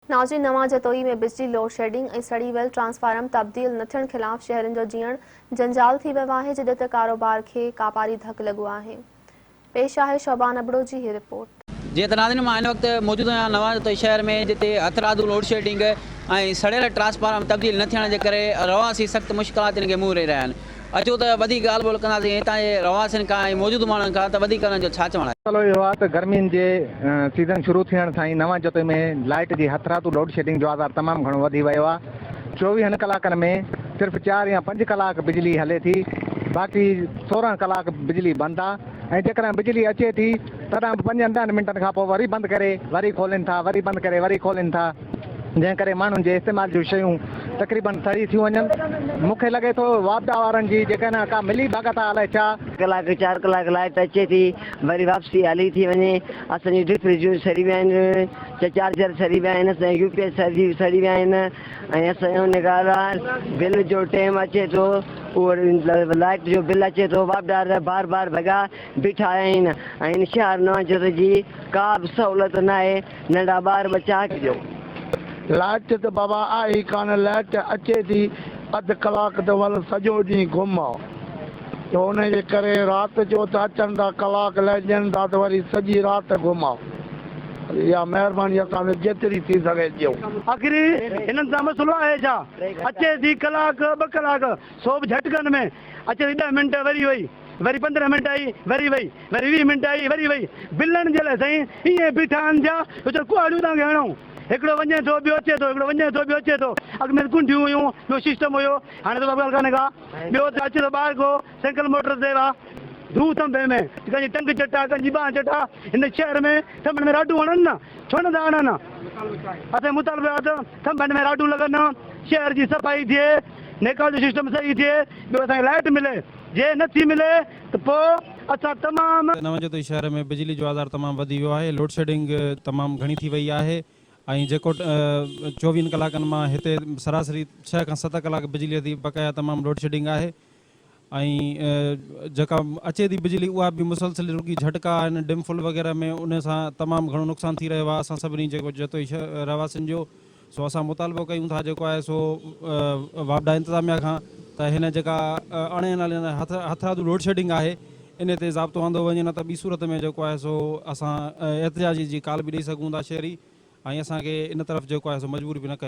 ناظرين نوان جتوئي ۾ بجلي لوڊشيڊنگ ۽ سڙي ويل ٽرانسفارم تبديل نه ٿيڻ خلاف شهرين جو جيئڻ جنجال ٿي ويو آهي جڏهن ته ڪاروبار کي ڪاپاري ڌڪ لڳو آهي پيش آهي شعبان ابڙو جي هي رپورٽ. جيئن ته ناظرين مان هن وقت موجود آهيان نوان جتوئي شهر ۾ جتي هٿرادو لوڊشيڊنگ ۽ سڙيل ٽرانسفارم تبديل نه ٿيڻ جي ڪري رهواسي سخت مشڪلاتن کي منهن ڏئي رهيا آهن. اچو ته وڌيڪ ڳالهه ٻولهه ڪنداسين هتان جي رهواسين کان ۽ موجود ماڻهن کان ته وڌيڪ انهن جو ڇا چوڻ آهي. مسئلو اهو آهي ته گرمين جي سيزن شروع ٿيڻ سان ئي نوان جتوئي ۾ لائيٽ جي هٿرادو لوڊ شيڊنگ جو آزار تمام گهڻو وڌي ويو آهي چوويهن ڪلاڪن ۾ صرف چار يا پنج ڪلاڪ بجلي هلي ٿي باقي سورهن ڪلاڪ بجلي بند آهي ۽ جيڪڏهن بجلي اچي ٿي تڏهن به پنجن ڏهن منٽن کانپوء وري بند ڪري وري کولين ٿا وري بند ڪري وري کولين ٿا. جنهن ڪري ماڻهن جي استعمال جون شيون تقريبن سڙي ٿيون وڃن. مون کي لڳي ٿو واپڊا وارن جي جيڪڏهن ڪا ملي ڀڳت آ الائي ڇا؟ ڪلاڪ چار ڪلاڪ لائٽ اچي ٿي وري واپسي هلي ٿي وڃي اسان جون ڊپ فرجون سڙي ويا آهن چا چارجر سڙي ويا آهن اسان جا يو پي ايس سڙي سڙي ويا آهن ۽ اسان جو ان ڳالهه آ بل جو ٽيم اچي ٿو اهو لائٽ جو بل اچي ٿو واپڊا وارا بار بار ڀڳا بيٺا آهن ۽ ان شهر نوان جوت جي ڪا به سهولت ناهي ننڍا ٻار ٻه چانهه ڏيو. لائٽ ته بابا آهي ئي ڪانه لائٽ اچي ٿي اڌ ڪلاڪ ته ول سڄو ڏينهن گم آ ته ان جي ڪري رات جو ته اچن ٿا ڪلاڪ لئه ڏين ٿا ته وري سڄي رات گم آ اها مهرباني اسان تي جيتري ٿي سگهي ڏيو. آخر هنن سان مسئلو آهي ڇا اچي ٿي ڪلاڪ ٻه ڪلاڪ سو به جهٽڪن ۾ اچي ٿي ڏهه منٽ وري وئي. وري پندرهن منٽ آئي وري وئي وري ويهه منٽ آئي وري وئي بلڻ جي لاء سائين ائين بيٺا آهن جا جو چون ڪهاڙيون تان کي هڻئون هڪڙو وڃي ٿو ٻيو اچي ٿو هڪڙو وڃي ٿو ٻيو اچي ٿو اڳ ۾ ڪنڊيون هيون ٻيو سسٽم هيو هاڻي ته ڪا ڳالهه ڪانهي ڪا ٻيو اچي ٿو ٻاهر ڪو سينڪل موٽر تي وا ڌو ٿنڀي ۾ ڪنهن جي ٽنگ چٽا ڪنهن جي ٻانهن چٽا هن شهر ۾ ٿنڀن ۾ راڊون هڻن نه ڇو نه ٿا هڻن اسين مطالبو آهي ته ٿنڀن ۾ راڊون لڳن شهر جي صفائي ٿئي نيڪال جو سسٽم صحيح ٿئي ٻيو اسان کي لائٽ ملي جي نه ٿي ملي ته پوء اسان تمام. نوجوتي شهر ۾ بجلي جو آزار تمام وڌي ويو آهي لوڊشيڊنگ تمام گهڻي ٿي وئي آهي ۽ جيڪو چوويهن ڪلاڪن مان هتي سراسري ڇهه کان ست ڪلاڪ بجلي ٿي بقايا تمام لوڊشيڊنگ آهي ۽ جيڪا اچي ٿي بجلي اها به مسلسل رڳي جهٽڪا آهن ڊيم فل وغيره ۾ ان سان تمام گهڻو نقصان ٿي رهيو آهي اسان سڀني جيڪو جتوئي رهواسين جو سو اسان مطالبو ڪيون ٿا جيڪو آهي سو واپڊا انتظاميا کان ته هن جيڪا اڻ اين ايل اين هٿرادو لوڊشيڊنگ آهي ان تي ضابطو آندو وڃي نه ته ٻي صورت ۾ جيڪو آهي سو اسان احتجاجي جي ڪال به ڏئي سگهون ٿا شهري ۽ اسان کي ان طرف جيڪو آهي سو مجبور به نه ڪيو